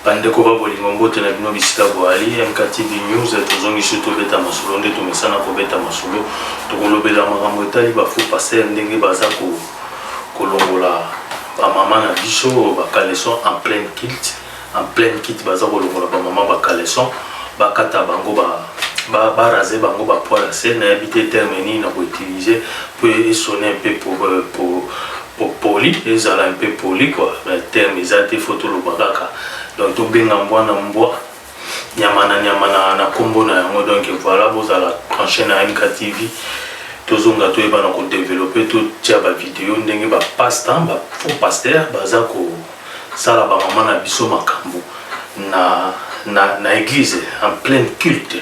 Ba ndeko ba bolingo mbote na bino bisika boali, MKTV news tozongi sur tobeta masolo nde tomesana kobeta masolo tokolobela makambo etali ba faux pasteur ndenge baza ko kolongola ba mama na biso ba caleçon en pleine kilt en pleine kit baza kolongola ba mama ba caleçon bakata bango ba ba ba raser bango ba poils ya se nayebi te terme nini na ko utiliser mpo esone mpe pour, pour Bo poli ezala un peu poli quoi mais terme eza te faut toloba kaka donc tobenga mbwa na mbwa nyama na nyama na na kombo na yango donc voilà bozala branche na MKTV tozonga toyebana ko developper totia ba video ndenge ba passe temps ba faux pasteur baza ko sala ba mama na biso makambo na na na eglise en pleine culte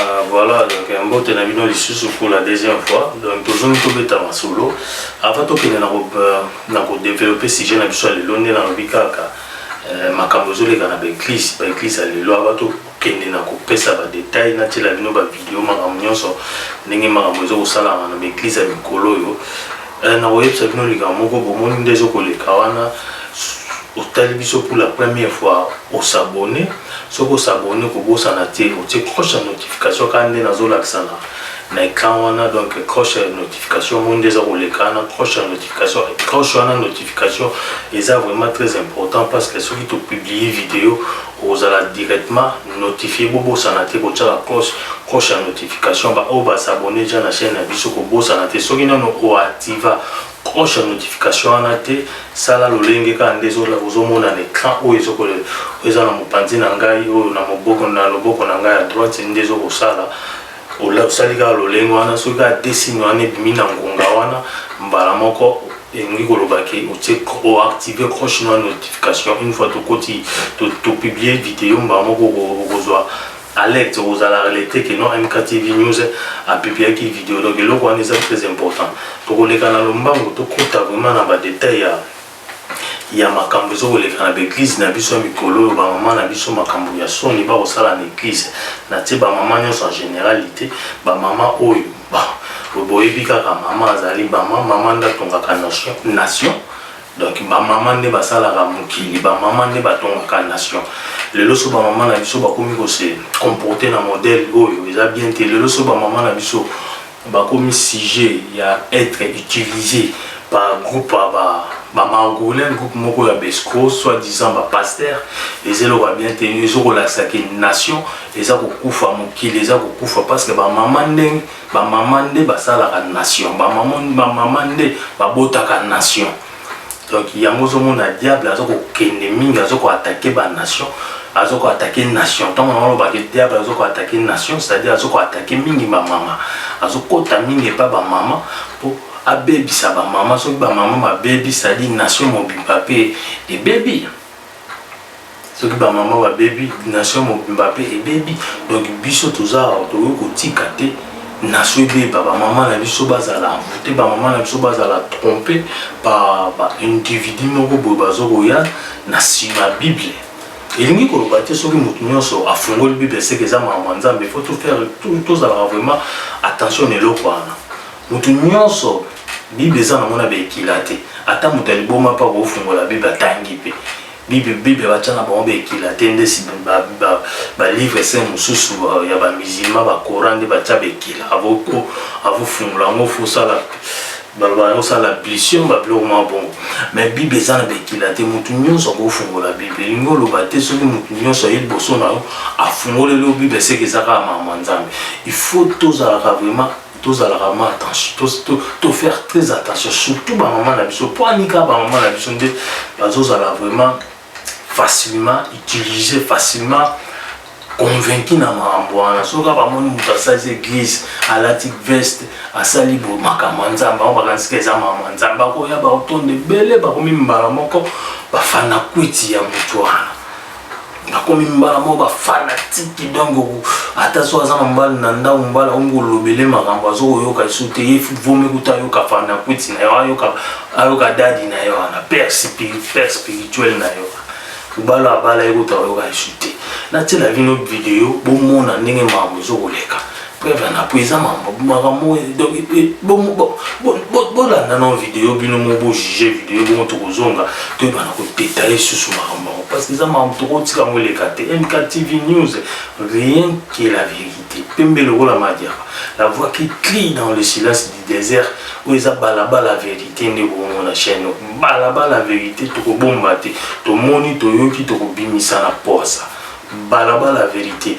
Ah, voilà donc euh, mbote na bino lisusu pour la deuxième fois donc tozongi tobeta masolo avant tokende na euh, kodeveloppe sujet na biso ya lelo nde nalobi kaka euh, makambo ezoleka na baeglise baeglise ya lelo aba tokende na kopesa badetail natyela bino bavideo makambo nyonso ndenge makambo ezokosala na baeglise ya mikolo oyo Eh, nakoyebisa bino likambo moko bomoni nde ezokoleka wana otali biso pour la première fois osabone soki osabone kobosana te otie croche ya notification kaka nde nazolakisa na na écran wana donc croche ya notification omoni nde eza koleka wana croche ya notification croche wana notification eza vraiment très important parce que soki topublie video Okozala directement notifier bobosana te kotiaka cloche cloche ya notification ya ba oyo ba s'abonner dejà na chaine na biso kobosana te soki nanu o activa cloche ya notification wana te sala lolenge kaka nde ozomona na ecran oyo ezo oyo eza na mopanzi na ngai oyo na moboko na loboko na ngai ya droite nde ezokosala osali kaka lolenge wana soki kaka desine wana ebimi na ngonga wana mbala moko elingi koloba ke otie oactive croche na notification une fois tokoti topublie video mbala moko okozwa alerte okozala alerte ke non mktv news apibliaki video donc eloko wana eza très important tokoleka na lombango tokota vraiment na badetail ya ya makambo ezokoleka na baeglize na biso ya mikolo oyo bamama na biso makambo ya soni bakosala na eglize na tie bamama nyonso en generalité bamama oyo boyebi kaka mama azali mama mama nde atongaka nation donc bamama nde basalaka mokili bamama nde batongaka nation lelo so bamama na biso bakomi kose comporte na modèle oyo eza bien te lelo so bamama na biso Bakomi sujet ya etre utilise par groupe ya ba ba margoulin groupe moko ya ba escroc soit disant ba pasteur eza eloko ya bien te ezo kolakisa ke nation eza kokufa mokili eza kokufa parce que ba mama nde ba mama nde basalaka nation ba mama ba mama nde babotaka nation donc yango ozomona diable aza kokende mingi aza koatake banation aza koatake nation ntango yango olobaka diable aza koatake nation c'est-à-dire aza koatake mingi bamama azokota mingi epa bamama mpo abebisa bamama soki bamama babebi c'est-à-dire nation mobimba mpe ebebi soki ba maman ba bebi nation mobimba pe ebebi donc biso toza awa tokoki kotika te nation ebeba ba maman na biso bazala envoute ba maman na biso bazala trompe ba ba individu moko boye bazo koya na sima bible elingi koloba te soki moto nyonso afungoli bible seke eza makambo ya nzambe faut to faire tozalaka vraiment attention na eloko wana Moto nyonso Bible eza nango na baekila te, ata moto ya liboma mpe akofungola Bible atangi mpe Bible, Bible batya na bango baekila te, nde balivre saint mosusu ya bamizilma bakora nde batya baekila avofungola yango fosala balobasala ablution babiloko mwa bongo me bible eza na baekila te moto nyonso akofungola bible elingi oloba te soki moto nyonso aye liboso na yo afungoleli yo bible seke eza kaka makambo ya nzambe il faut tozalaka vraiment tozalaka ma attention to, to, to faire très attention surtout bamama na biso mpo anika bamama na biso nde bazozala vraiment facilement utilisé facilement convaincu na makambo wana soki bamoni moto asali église alati veste asali bo makambo ya nzambe yango bakanisika eza makambo ya nzambe bakoya baotonda ebele bakomi mbala moko bafana kwiti ya moto wana nakomi mbala moko bafanatiki donc ata so aza na mbala na ndambo mbala omi kolobele makambo azokoyoka esu te ye vomi kuta ayoka fanakwiti na yo ayoka ayoka dadi na yo wana père spirituel na yo obala abala ye kuta ayoka esu te natiela bino video bomona ndenge makambo ezokoleka preuve na po eza makambo donc bolanda na video bino mo bojuge video bongo tokozonga toyebana kodetaille susu makambo yango parce que eza makambo tokotika yango eleka te mk tv news rien que la vérité pembe lokola madiaka la voix qui crie dans le silence du désert oyo eza balabala vérité nde bongo na chaîne balabala vérité tokobomba te tomoni toyoki tokobimisa na posa balabala vérité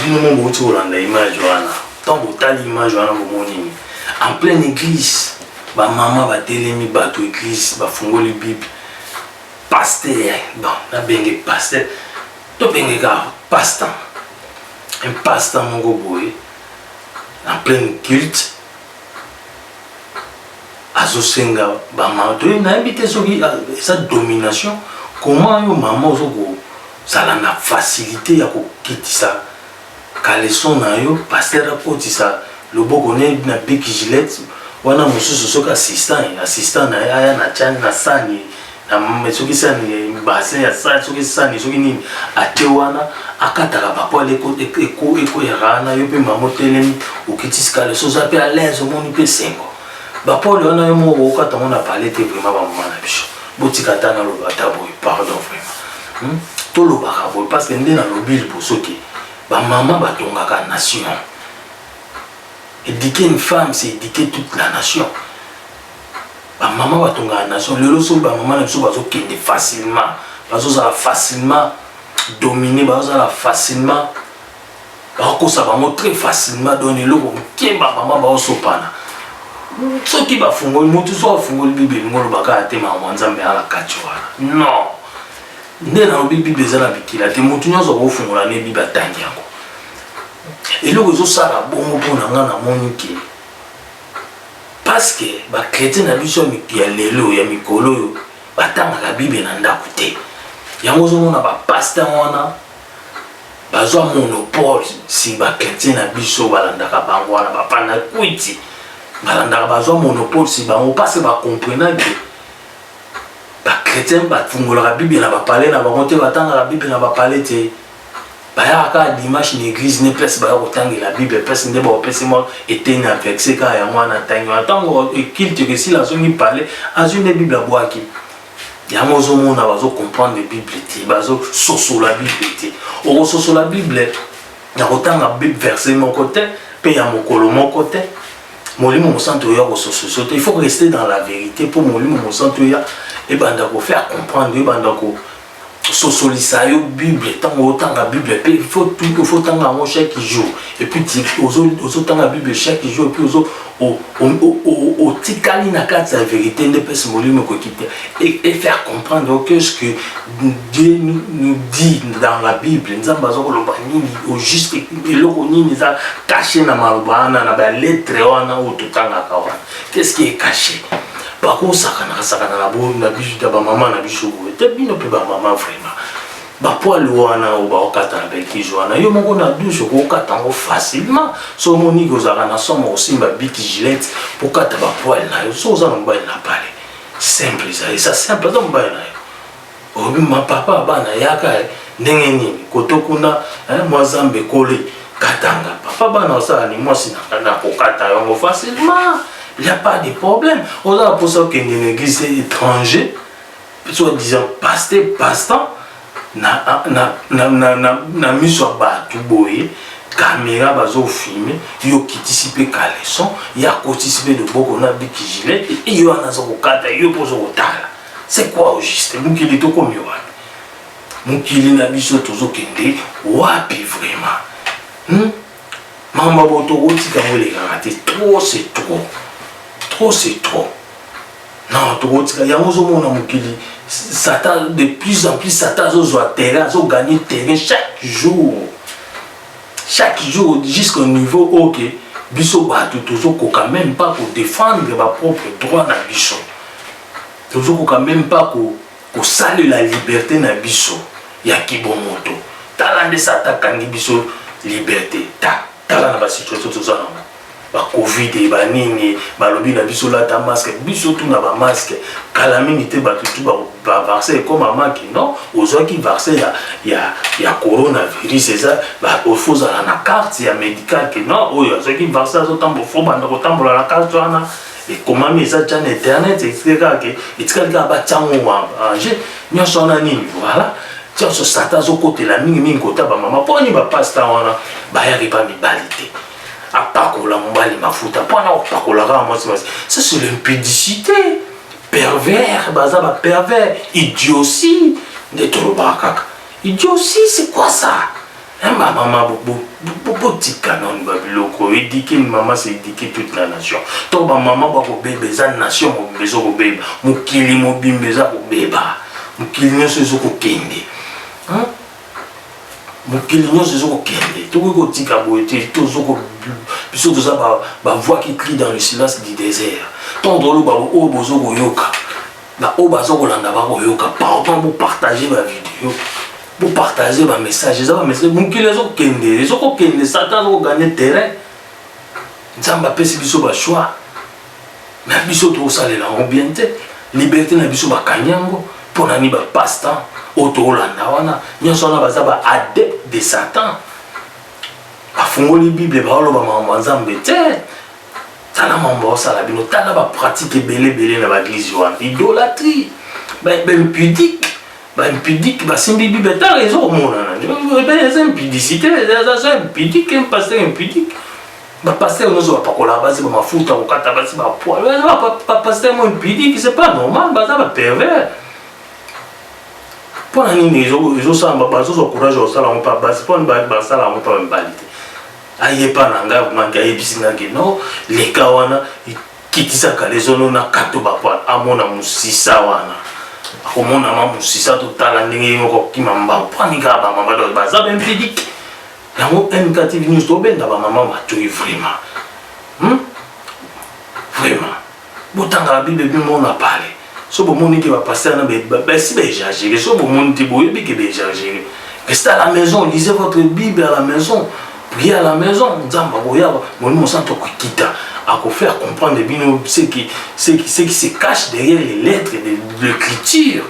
Bino mo bouti kolanda image wana ntango botali image wana bomoni nini en pleine église bamama batelemi bato église bafungoli bible paster bon nabenge paster tobenge kaka pastan un pastan moko boye en pleine culte azosenga bamama toyebi nayebi te soki eza domination comment yo mama ozo Zala na facilite ya kokitisa caleçon na yo, pasteur akotisa loboko ne na bic gilette wana mosusu soki assistant ye assistant na ye aya na tya na sani na soki sani basin ya sani soki sani soki nini ate wana akataka bapoile ekweyaka wana yo mpe mama otelemi okitisi caleçon oza mpe à l'aise omoni mpe esengo bapoile wana yo moko okokata yango na pale te vraimen bamama na biso botika ata naloba ata boye pardon vraimen Hmm? tolobaka boye parce que nde nalobi liboso ke bamama batongaka nation éduquer une femme c'est éduquer toute la nation bamama batongaka nation lelo soki bamama na biso bazokende facilement bazozala facilement domine bazozala facilement bakokosa bango très facilement donc eloko moke ba mama baosopana soki bafungoli motu so afungoli bible elingi oloba kaka te makambo ya nzambe aa na kati wana non nde nalobi bible eza na bikila te motu nyonso akofungola ne bible atangi yango eloko ezosala bongo mpo na ngai namoni ke parceke bakretien na biso ya lelo ya mikolo oyo batangaka bible na ndako te yango ozomona bapaster wana Bazwa monopole si ba chretien na biso balandaka bango wana ba fanakwiti balandaka bazwa monopole si bango parce ba comprena que ba chretien bafungolaka bible na bapale na bango te batangaka bible na bapale te bayaka kaka dimanche na église ne place baya kotangela bible place nde baopesi mwa eteni ya verse kaka yango wana ntangi wana ntango ekilte kesila azongi pale azwi nde bible abwaki yango ozomona bazo comprendre bible te bazo sosola bible te okososola bible na kotanga verse moko te mpe ya mokolo moko te molimo mosantu oyo akosososo te il faut rester dans la vérité mpo molimo mosantu oyo ebanda kofaire comprendre ebanda ko sosolisa yo bible ntango otanga bible mpe faut otanga yango chaque jour epuis ozotanga bible chaque jour epuis otikali na kati ya verité nde mpesi molimo ekoki te et faire comprendre que ce que dieu nous dit dans la bible nzambe aza koloba nini au juste eloko nini eza cache na maloba wana na baletre wana oyo totangaka wana qu'est-ce qui est caché bakosakanaka sakanaka bo na biso ya bamama na biso boye te bino mpe bamama vraiment bapoile wana oyo baokata na bekise wana yo moko na douche okokata yango facilement so omoniki ozalaka na somo okosimba biki gilete okata bapoile na yo so oza na mobali na pale simple ezali eza simple aza mobali na yo olobi ma papa bana yaka eh, ndenge nini koto kuna eh, mwa zambe ekoli katanga papa bana osala ni mwasi na kokata yango facilement il n'y a pas de problème oza na mposa okende na église étranger soit disant paste passe-temps na, na, na, na, na, na miso ya bato boye kamera bazofilme yo okitisi mpe caleson ye akotisi mpe loboko na bikigilete eyo wana aza kokata yo mpo oza kotala C'est quoi au juste mokili tokomi wapi mokili na biso tozokende wapi vraiment hmm? makambo ya boto okotika yango elekaka te trop c'est trop trop c'est trop non tokotika yango ozomona mokili satan de plus en plus satan azozwa terrain azoganye terrain chaque jour chaque jour jusqu'au niveau oyo okay. biso bato tozokoka même pas kodefendre bapropre droit na biso Tozo koka meme pas ko kosalela liberte na biso ya kibomoto. Tala nde satan akangi biso liberte. Ta, tala na ba situation toza nango. Ba covid et ba nini, balobi na biso lata masque, biso tout na ba masque. Kala mingi te batu tout ba ba vaccin ekoma maki. Non, ozwaki vaccin ya ya ya corona virus eza ba il faut ozala na carte ya medical que non oyo azwaki vaccin azo tambola faut banda ko tambola na carte wana. ekomami eza tya na internet etikali kaka ke etikali kaka batyango ange nyonso wana nini voilà ntionso sata azokotela mingimingi kota bamama mpo ani bapasta wana bayaki mpa mibali te apakola mobali mafuta mpo ana opakolaka na mwasi mwasi ça c'est l'impudicité pervers baza bapervers idiosi nde tolobaka kaka idiosi c'est quoi ça Hein, ma maman, botika nanu ba biloko edike maman se edike toute la nation to ba maman bakobeba eza nation mobimba ezokobeba mokili mobimba eza kobeba mokili nyonso ezokokende mokili nyonso ezokokende tokoki kotika boye te biso toza bavoix qui crie dans le silence du désert ntongo toloba oyo bozokoyoka ba oyo baza kolanda bakoyoka pardon bopartage bavideo bopartage bamessage eza bamessage mokili ezokende ezokokende satan azokoganye terrain nzambe apesi biso bachoix na biso tokosalela yango bien te liberté na biso bakangi yango mpo na nini bapasse temps oyo tokolanda wana nyonso wana baza ba adepte de satan bafungoli bible baoloba makambo ya nzambe te tala mambo osala bino tala ba pratique ebele ebele na baeglise wana idolatrie baimpudique baimpudique basimbi bible tala eza komonana eza impudicité eza impudique pasteur impudique bapasteur nyonso bapakolaka basi bamafuta kokata basi bapoil bapasteur mo impudique c'est pas normal baza bapervers mpo na nini ezosala bazozwa courage ya kosala yango mpa basi mpo basala yango mpa mibali te aye epa na ngai maki ayebisi ngai ke no leka wana kitisa kalezono na kato bapwana amona mosisa wana akomona ma mosisa totala ndenge ye moko kima mbao pwani kaka bamama donc baza baimpedique yango mk tv news tobenga bamama matoi vraiment hmm? vraiment botanga la bible mpe mona pale so bomoni ke bapaster na basi baexagere so bomoni te boyebi ke baexagere reste à la maison lisez votre bible à la maison prier à la maison nzambe akoya molimo mosanto akokita akofaire comprendre bino ce qui, ce qui, ce qui se cache derrière les lettres de l'écriture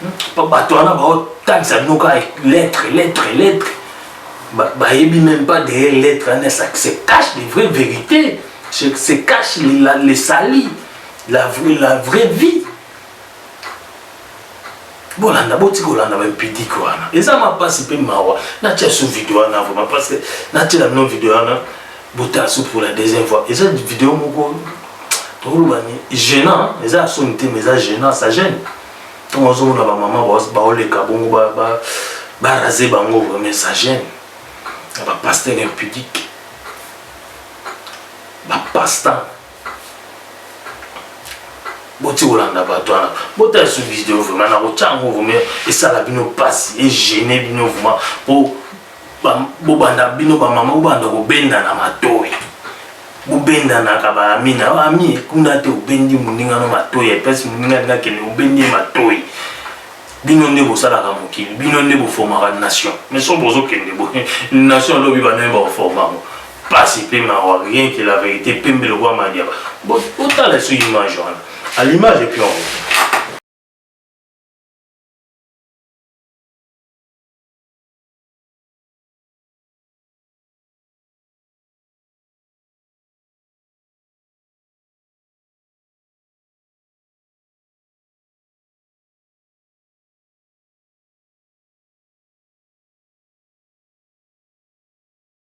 hmm? bato wana baotangisa bino kaka lettre lettre lettre bayebi même pas derrière lettre wana ça se cache des vraies vérités se cache les, la, les salis la, vraie, la vraie vie bolanda boti kolanda bampidike wana eza mapasi mpe mawa natya su video wana vraimen parce que natyela bino video wana botala su pour la deuxième fois eza video moko tokoloba ni gênant eza ya soni te mais eza gênant ça gêne ntango azomona bamama baoleka bongo barase bango vraimen ça gêne ya bapaster impudique ba pasta boti kolanda bato wana botala su video vraiment nakotya yango vraimen esala bino mpasi egene bino vraimen po bobanda bino bamama bobanda kobendana matoi bobendanaka baami na baami kuna te obendi moninga no matoi epesi moninga ndinga kende obendi ye matoi bino nde bosalaka mokili bino nde boformaka nation mais so bozokende boye nation alobi banaye bakoformango pasi pe mawa rien que la verite pembe lokola madiaba bo otala so image wana à l'image et puis on revient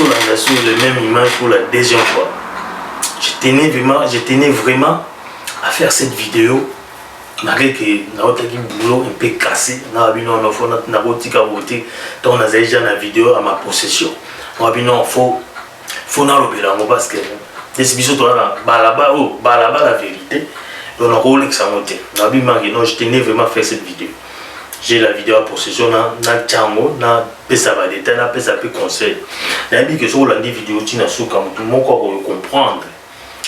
tolanda sur le même image pour la deuxième fois je tenais vraiment, je tenais vraiment à faire cette vidéo malgré que naotaki boulot un peu cassé na bino na fo nakotika bote ntango nazali ja na video à ma possession na bino fo faut nalobela yango parce que neti biso toza na balabala oyo oh, balabala vérité donc nakolekisa yango te nabi manke non je tenais vraiment faire cette vidéo j'ai la vidéo ya possession na natya yango napesa badetail napesa mpe conseil nayebi ke soki olandi video ti na suka motu moko akoyo comprendre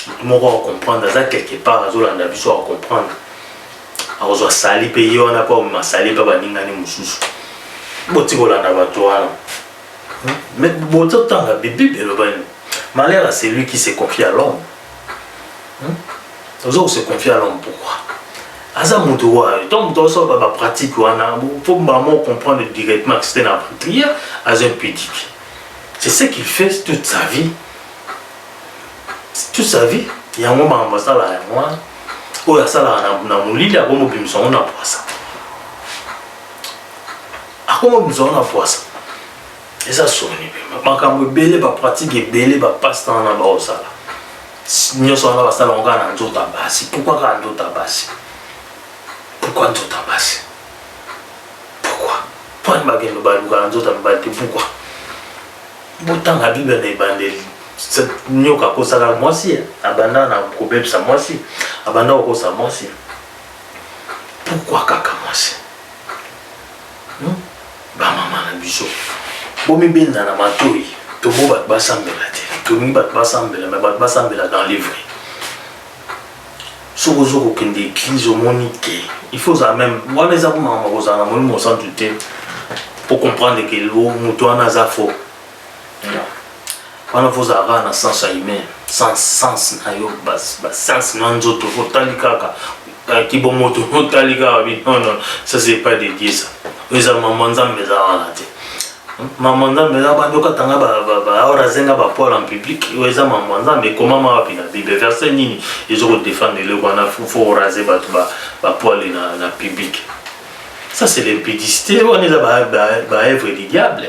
motu moko acomprendre aza quelque part azolanda biso acomprendre akozwa sali mpe ye wana mpe akomema sali mpe baningani mosusu botikolanda bato wana Mais bozo tanga bibible eloba nini? Malheur à celui qui se confie à l'homme. Ozo ko se confier à l'homme pourquoi? aza moto wayo ntango moto azosalaka bapratique wana mpo mama ocomprendre directement que c'était na prière aza impudique c'est ce qu'il fait toute sa vie toute sa vie yango makambo asalaka yango wana oyo asalaka na molili akomobimisa yango na pwasa akoma bimisa wana pwasa eza soni mpe makambo ebele bapratike ebele bapaste wana baosala nyonso wana basala yango kaka na nzoto ya basi pourkui kaka nzoto ya basi pourkui nzoto ya basi pourkui mponi bakende baluka na nzoto ya mibali te pourkui botanga bible na ebandeli nyoka akosaka mwasi abanda na kobebisa mwasi abanda kokosa mwasi pourkui kaka mwasi Hum ba maman na biso bomi benda na matoyi tobo bato basambela te tolingi bato basambela me bato basambela dans les vrais soki ozo kokende église omoni te il faut ozala meme wana eza komaka makozala na molimo mosantu te po comprendre ke moto wana aza faux wana fo ozala kaka na sens ya humain sans sens na yo basens na nzoto fo otali kaka eh, kibomoto fo otali kaka bi non non ça c'est pas de dieu ça oyo eza mama nzambe eza wana te mama nzambe eza bandi okatanga aora azenga bapoil en public oyo eza mama nzambe ekomama wapi na bible verset nini ezo kodefendre eloko wana fo orase bato bapoile na public ça c'est l'impudicité wana eza baevre du diable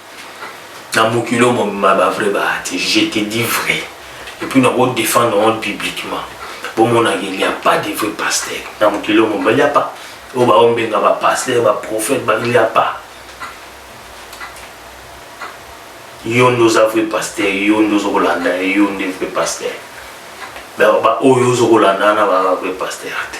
na mokili oyo mobima ba vrai baya te je te dis vrai epuis nako défendre yango publiquement bomonaka il y a pas de vrai pasteur na mokili oyo mobima il y a pas oyo baombenga ba pasteur ba prophète ba il y a pas yo nde oza vrai pasteur yo nde ozokolanda yo nde vrai pasteur baoyo ozokolanda wana baa vrai pasteur te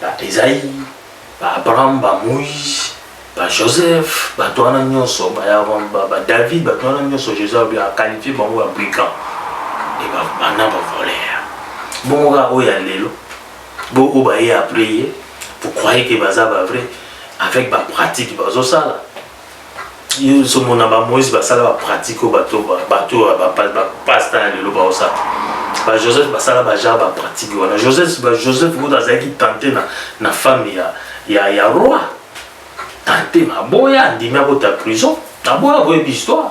ba Esaïe, ba Abraham, ba Moïse, ba Joseph, ba Toana Nyoso, ba Yaron, ba, ba David, ba Toana Nyoso, Joseph bien a qualifié bango ba brigand et ba bana ba voleur. Bon ga o ya lelo, bo o ba ye après ye, vous croyez que baza ba vrai avec ba pratique ba zo sala? yo somo na ba moïse basala ba pratique oyo bato bato bapasta ya lelo baosala ba joseph basala baja ba pratique wana joseph ba joseph kutu azalaki tante na, na femme ya, ya, ya roi tante maboya andimi akota prison aboya boyebi histoire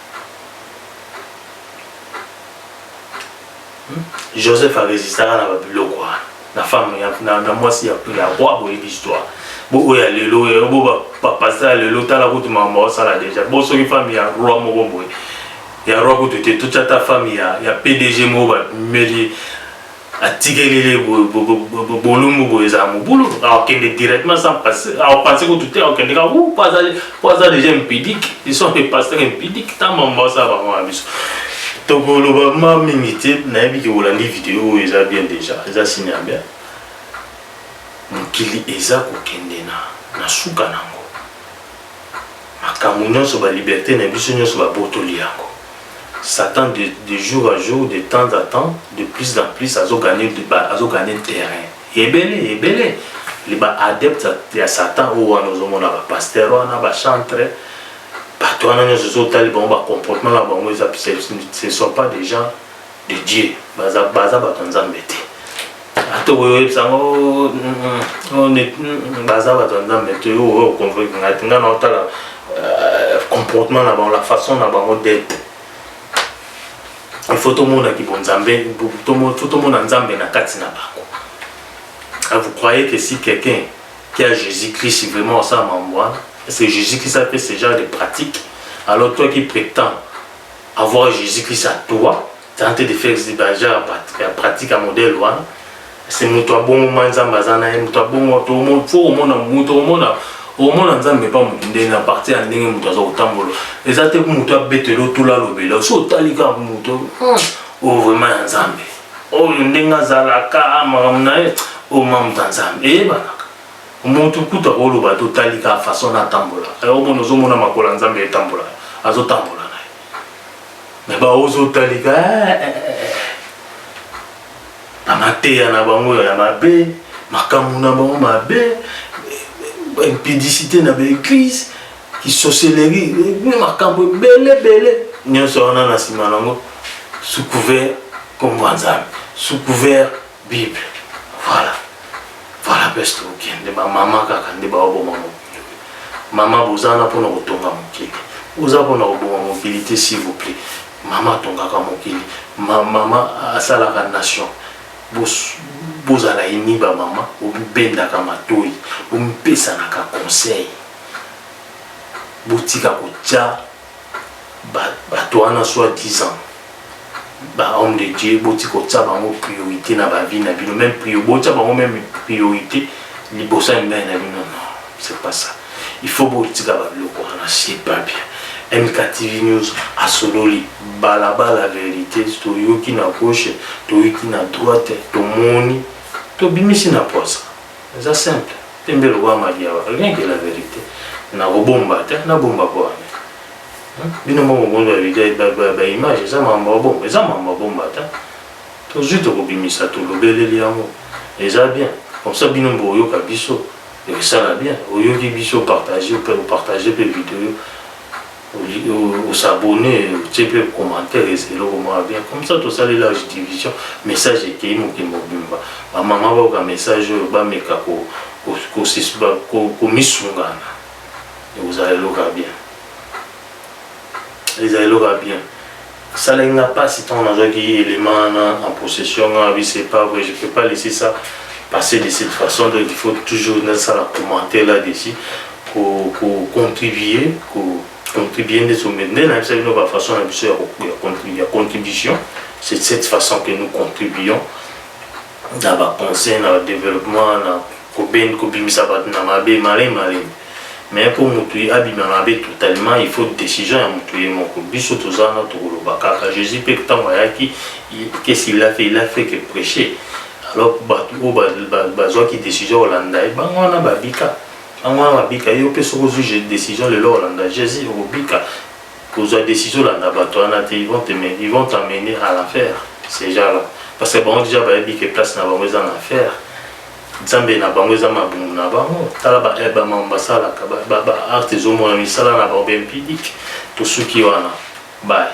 joseph aresistaka na babiloko wana na femme na mwasi ya roi boyebi histoire bo oyo ya lelo oyo bo bapasta ya lelo tala kutu makambo osala deja bo soki femme ya roi moko boye ya roi kutu te totya ta femme ya pdg moko bameli atikeli le bolumbu boye ezala mobulu akende directement sans passer apense kutu te akende kaka po azali po aza déjà impudique ils sont des pasteurs impudiques ta mama basala bango na biso tokoloba ma mingi te nayebi ke olandi video oyo eza bien déjà eza signe ya bien mokili eza kokende na na suka nango Makambo nionso ba liberte na biso nionso ba botoli yango. Satan de de jour à jour de temps à temps de plus en plus azo gagne ba azo gagne terrain ebele ebele li ba adepte ya satan oyo wana ozo mona ba pasteur wana ba chantre bato wana nionso ozo tali bango ba comportement na bango eza ce sont pas des gens de Dieu baza baza bato nzambe te ata oyebisa ngo baza bato ya nzambe te oyo okonvoki ngai te ngai naotala comportement na bango la façon na bango d'être ifo tomona kibonzambe fo tomona nzambe na kati na bango vous croyez que si quelqu'un qui a jésus christ vraiment osala mambo wana est ce que jésus christ a fait ce genre de pratique alors toi qui prétends Avoir Jesus Christ à toi, tenter de faire des barrières à pratique à modèle wana. C'est moto abongo ma nzambe aza na ye moto abongo to mo fo omona moto omona omona nzambe pa moto ndenge na parti ya ndenge moto aza kotambola eza te moto abetela otula alobela so otali kaka moto oyo hmm. oh, vraiment ya nzambe oyo oh, ndenge azalaka ah, makambo na ye omamta oh, nzambe eyebanaka Mutu kutu akoloba to tali ka façon na tambola. Ayo mona ozo mona makola nzambe etambola. Azo tambola na. Mais ba ozo tali ka eh, eh, eh, eh. Ba mateya na bango ya mabe, makambo na bango mabe, ba impudicité na ba église, isocellerie, makambo bele bele. Nyoso wana na sima nango sous couvert kombo nzambe. Sous couvert Bible. Voilà. Voilà best okende ba mama kaka nde ba oboma mokili. Mama bozana pona kotonga mokili. Oza pona koboma mokili te s'il vous plaît. Mama tongaka mokili. Ma, mama asalaka nation. Bos, bozala ini ba mama obendaka matoi omipesanaka conseil botika kotya batu wana soit disant ba homme de Dieu boti kotia bango priorité na ba vie na bino même priyo botia bango même priorité liboso ya mibali na bino non c'est pas ça il faut botika ba biloko wana c'est pas bien MKTV News asololi balabala verite toyoki na gauche toyoki na droite tomoni tobimisi na posa Eza simple. Pembe lokola madiaba. Rien que la verite. Na kobomba te, na bomba po wana. Bino moko bondo ya video ba, ba, ba image eza mambo ya bomba, eza mambo ya bomba ta. Tozui tokobimisa to lobeleli yango. Eza bien. Comme ça bino mbo yoka biso. Ekosala bien. Oyoki biso partager pe partager pe video. osabone otie mpe commentaire eza eloko moko bien comme ça tosali large division message ekei mokili mobimba bamama bayoka message oyo bameka komisungana ekozala eloko ya bien eza eloko ya bien Esalaki nga pasi tango nazwaki element wana en possession nga nalobi c'est pas vrai je peux pas laisser ça passer de cette façon donc il faut toujours nasala commenter là dessus ko ko contribuer ko contribuer nde so nde nayebisa bino ba façon na biso ya contribution c'est de cette façon que nous contribuons na ba conseils na ba developpement na koben kobimisa bato na mabe malin malin mais mpo moto ye abima mabe totalement il faut decision ya moto ye moko biso toza wana tokoloba kaka jésus mpe ntango ayaki qu'est-ce qu'il a fait il a fait que prêcher alors bato oyo bazwaki decision kolanda ye bango wana babika bango wana babika yo mpe soki ozwi décision lelo kolanda jésus okobika Kozwa decision olanda bato wana te, ils vont te ils vont t'amener à l'enfer ces gens là parce que bango dejà bayebi que place na bango eza na enfer. Nzambe na bango eza mabumu na bango. Tala ba eh, ba mambo basalaka ba, ba, ba acte ezomona misala na bango bempidik tosuki wana bye.